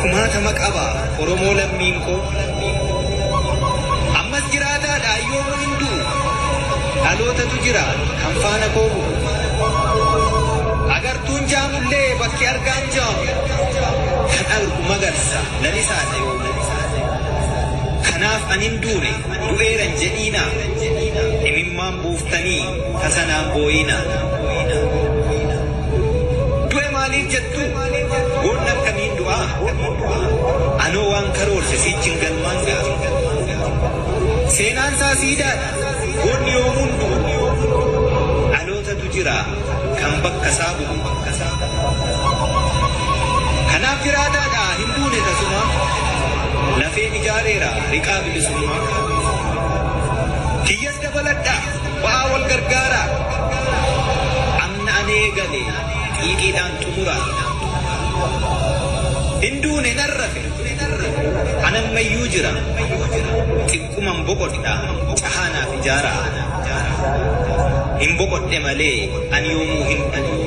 kumaatama qaba Oromoo lammiin koo Ammas jiraataa dha yoomuu hin du'u Dhalootatu jira kan faana koo bu'u Agartuun jaamullee bakki argaan jaamu Kan argu magarsa lalisaa dha yoomuu Kanaaf an hin duune du'eera hin jedhiinaa Imimmaan buuftanii tasa naan booyiinaa Du'e maaliif jettu Boolla akkamiin du'aa? Anoo waan karoorse siichin galmaan ga'a. Seenaan isaa siidaadha, goonni yoomuu hin du'u. Dhalootatu jira kan bakka isaa bu'u. Kanaaf jiraataadha hin duune tasumaa. Lafeen ijaareera riqaa bilisummaa. Kiyyas dabaladha ba'aa wal gargaaraa. Kan ani eegale xiiqiidhaan xumura. Hin duune nan rafe, an amma iyyuu jira. Xiqquman boqodha, cahaa naaf ijaara. Hin boqodhe malee an yoomuu hin du'u.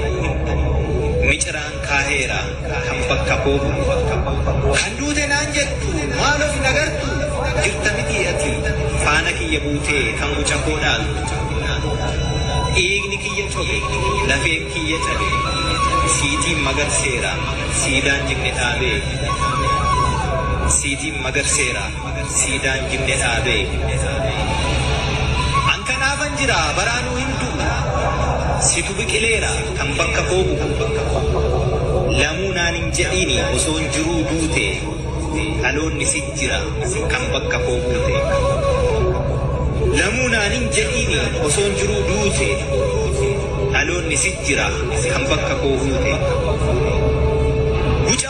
Miciraan. kaaheera kan bakka koo bu'u. Kan duute naan jettu maal of hin agartu jirta mitii ati faana kiyya buutee kan guca koo dhaaltu. Dhiigni kiyya cobe lafeen kiyya cabe siitiin magarseera siidaan jenne dhaabee siitiin magarseera. siidaan jinne dhaabe. An kanaafan jira baraanuu hin du'u situ biqileera kan bakka koo bu'u lamuu naan hin jedhiini osoon jiruu duute dhaloonni si jira kan bakka koo buute lamuu naan hin jedhiini osoon jiruu duute dhaloonni si jira kan bakka koo buute.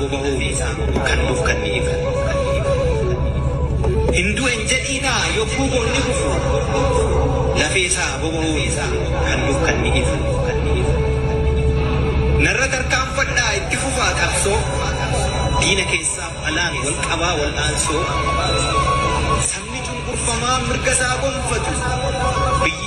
bobahuu isaa kan nuuf kanni ifu. Hin du'e hin jedhiinaa yogguu boon ni kufu lafee isaa bobahuu isaa kan nuuf kanni ifu. Narra tarkaanfadhaa itti fufaa qabsoo diina keessaaf alaan wal qabaa wal'aansoo sabni cunqurfamaa mirga isaa gonfatu biyyi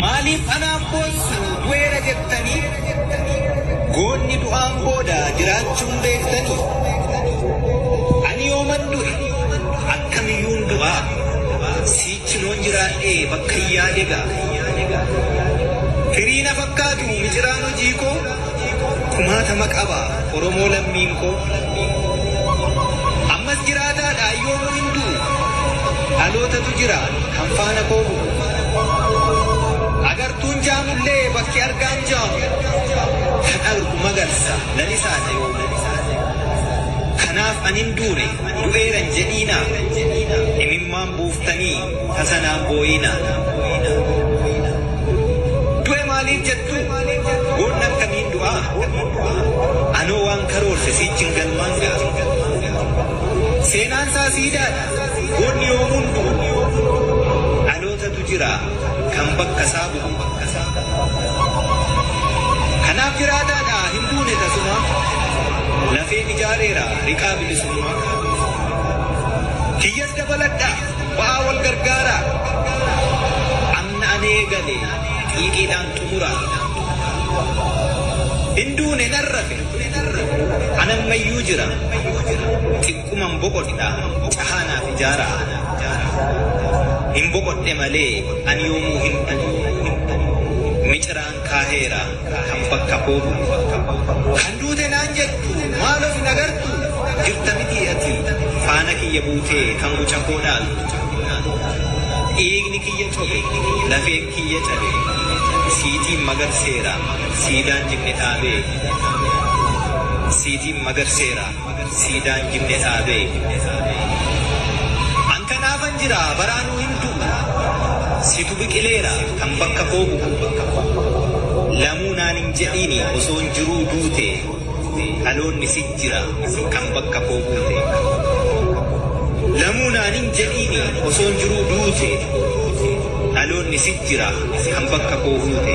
Maaliif anaaf boossu du'eera jettanii goonni du'aan booda jiraachuun beektanii ani yooman du'e akkamiyyuun du'aa siichi loon jiraadhee bakka hin yaade ga'a firii na fakkaatu miciraan hojii koo kumaatama qaba Oromoo lammiin koo Ammas jiraataadha yoomuu hin du'u Dhalootatu jira kan faana koo bu'u Agartuun jaamullee bakki argaan jaamu Kan argu magarsa lalisaadha yoomuu Kanaaf an hin duune du'eera hin jedhiinaa Imimmaan buuftanii tasa naan booyiinaa Du'e maaliif jettu Goonni akkamiin du'aa? Anoo waan karoorse siichin galmaan ga'a. Seenaan isaa siidaadha. Goonni yoomuu hin du'u. Dhalootatu jira kan bakka isaa bu'u. Kanaaf jiraataadha hin duune tasumaa. Lafeen ijaareera riqaa bilisummaa. Kiyyas dabaladha ba'aa wal gargaaraa. Amna ani eegale. Xiiqiidhaan xumura. Hin duune nan rafe. An ammayyuu jira. Xiqquman boqodha. Cahaa naaf ijaara. Hin boqodhe malee an yoomuu hin du'u. Miciraan kaaheera. Kan bakka koo bu'u. Kan duute naan jettu maal of hin agartu jirta mitii ati faana kiyya buutee kan guca koo dhaaltu dhiigni kiyya cobe lafeen kiyya cabe siitiin magarseera siidaan jinni dhaabee siitiin magarseera. Siidaan jibbe dhaabe. An kanaafan jira baraanuu hin du'u. Situ biqileera kan bakka koo bu'u. Lamuu naan hin jedhiini osoon jiruu duute. Dhaloonni si jira kan bakka koo buute. Lamuu naan hin jedhiini osoon jiruu duute. Dhaloonni si jira kan bakka koo buute.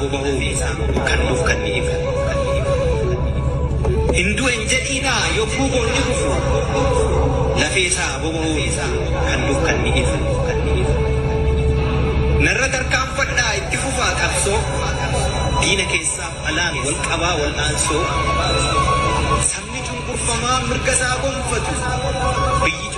Hubahuu fi kan nuuf kanni ifu. Hin du'e hin jedhiinaa yogguu boonni kufu lafee isaa bobahuu fi kan nuuf kanni ifu. Narra tarkaanfadhaa itti fufaa qabsoo diina keessaaf alaan wal qabaa wal'aansoo sabni cunqurfamaa mirga isaa gonfatu biyyi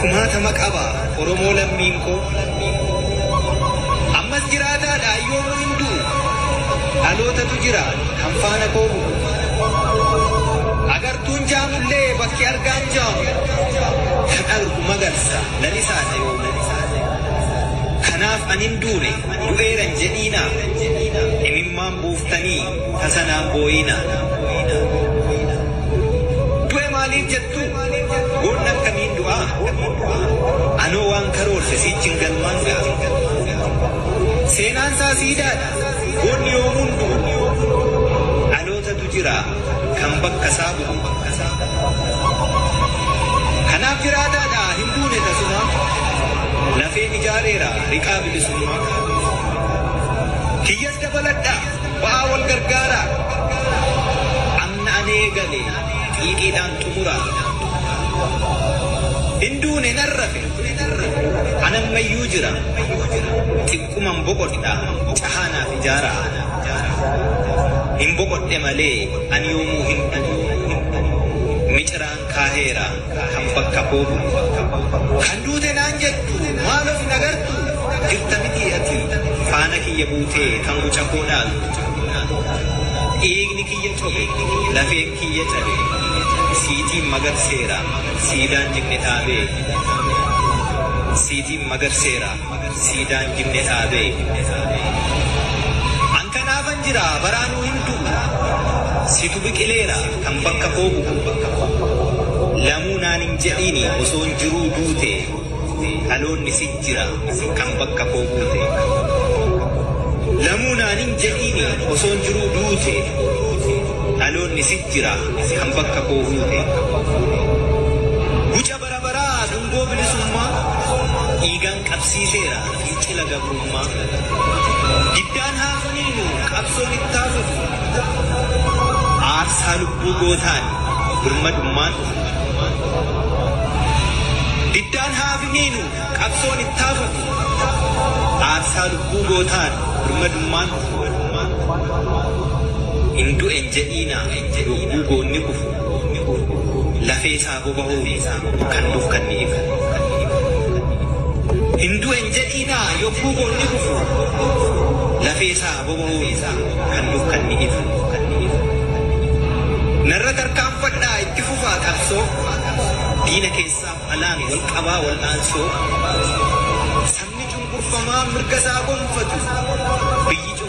kumaatama qaba Oromoo lammiin koo Ammas jiraataadha yoomuu hin du'u Dhalootatu jira kan faana koo bu'u Agartuun jaamullee bakki argaan jaamu Kan argu magarsa lalisaadha yoomuu Kanaaf an hin duune du'eera hin jedhiinaa Imimmaan buuftanii tasa naan booyiinaa Du'e maaliif jettu Goonni akkamiin du'aa? Anoo waan karoorse siichin galmaan ga'a. Seenaan isaa siidaadha. Goonni yoomuu hin du'u. Dhalootatu jira kan bakka isaa bu'u. Kanaaf jiraataadha hin duune tasumaa. Lafeen ijaareera riqaa bilisummaa. Kiyyas dabaladha ba'aa wal gargaaraa. Amna ani eegale. Xiiqiidhaan xumura. Hin duune nan rafe, an ammayyuu jira. Xiqquman boqodha, cahaa naaf ijaara. Hin boqodhe malee an yoomuu hin du'u. Miciraan kaaheera. kan bakka koo bu'u. Kan duute naan jettu maal of hin agartu jirta mitii ati faana kiyya buutee kan guca koo dhaaltu. Dhiigni kiyya cobe lafeen kiyya cabe siitiin magarseera siidaan jinne dhaabee siitiin magarseera. siidaan jimne dhaabe. An kanaafan jira baraanuu hin du'u. Situ biqileera kan bakka koo bu'u. Lamuu naan hin jedhiini osoon jiruu duute. Dhaloonni si jira kan bakka koo buute. Lamuu naan hin jedhiini osoon jiruu duute. Dhaloonni si jira kan bakka koo buute. Bara baraa dungoo bilisummaa dhiigaan qabsiiseera fincila gabrummaa. Diddaan haa finiinu qabsoon ittaa fufu aarsaa lubbuu gootaan birmadummaan dhufu. Diddaan haa finiinu qabsoon ittaa fufu aarsaa lubbuu gootaan birmadummaan dhufu. Hin du'e hin jedhiinaa yogguu goonni kufu lafee isaa. bobahuu fi kan nuuf kanniif. Hin du'e hin jedhiinaa yogguu boonni kufu lafee isaa bobahuu fi kan nuuf kanniif. Narra tarkaanfadhaa itti fufaa qabsoo diina keessaaf alaan wal qabaa wal'aansoo sabni cunqurfamaa mirga isaa gonfatu biyyi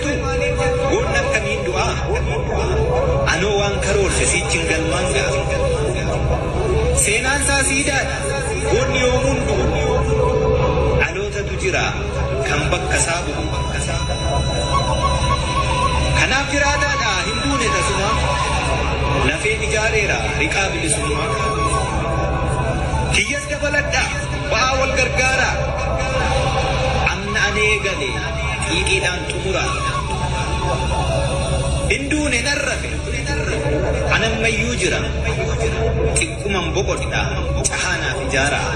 Goonni akkamiin du'a? Anoo waan karoorse siichin galmaan ga'a. Seenaan isaa siidaadha. Goonni yoomuu hin du'u. Dhalootatu jira kan bakka isaa bu'u. Kanaaf jiraataadha hin duune tasumaa. Lafeen ijaareera riqaa bilisummaa. Kiyyas dabaladha ba'aa wal gargaaraa. Amna ani eegale. xiiqiidhaan xumura. Hin duune nan rafe, an amma iyyuu jira, xiqquman boqodha, cahaa naaf ijaaraa.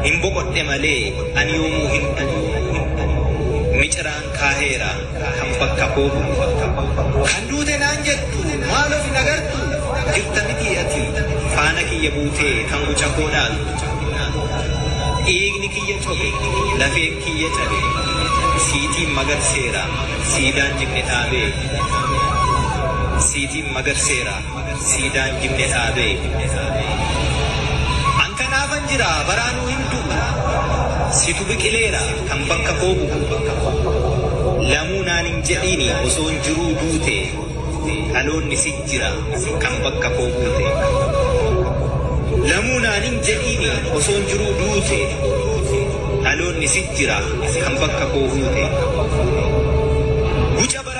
Hin boqodhe malee an yoomuu hin du'u, miciraan kaaheera. Kan bakka koo bu'u. Kan duute naan jettu maal of hin agartu? Jirta mitii ati faana kiyya buutee kan guca koo dhaaltu? Dhiigni kiyya cobe, lafeen kiyya cabe, siitiin magarseera, siidaan jibne dhaabee, siitiin magarseera. Siidaan jibbe dhaabe. An kanaafan jira baraanuu hin du'u. Situ biqileera kan bakka koo bu'u. Lamuu naan hin jedhiini osoon jiruu duute. Dhaloonni si jira kan bakka koo buute. Lamuu naan hin jedhiini osoon jiruu duute. Dhaloonni si jira kan bakka koo buute. Guca bara.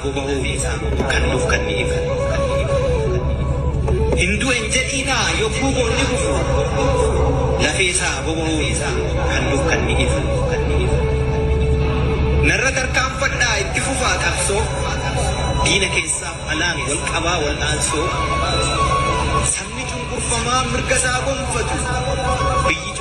bobahuu kan nuuf kanniif hin du'en jedhiinaa yogguu boonni kufu lafee isaa bobahuu kan nuuf kanniif narra tarkaanfadhaa itti fufaa qabsoo diina keessaaf alaan wal qabaa wal'aansoo sabni cunqurfamaa mirga isaa gonfatu biyyi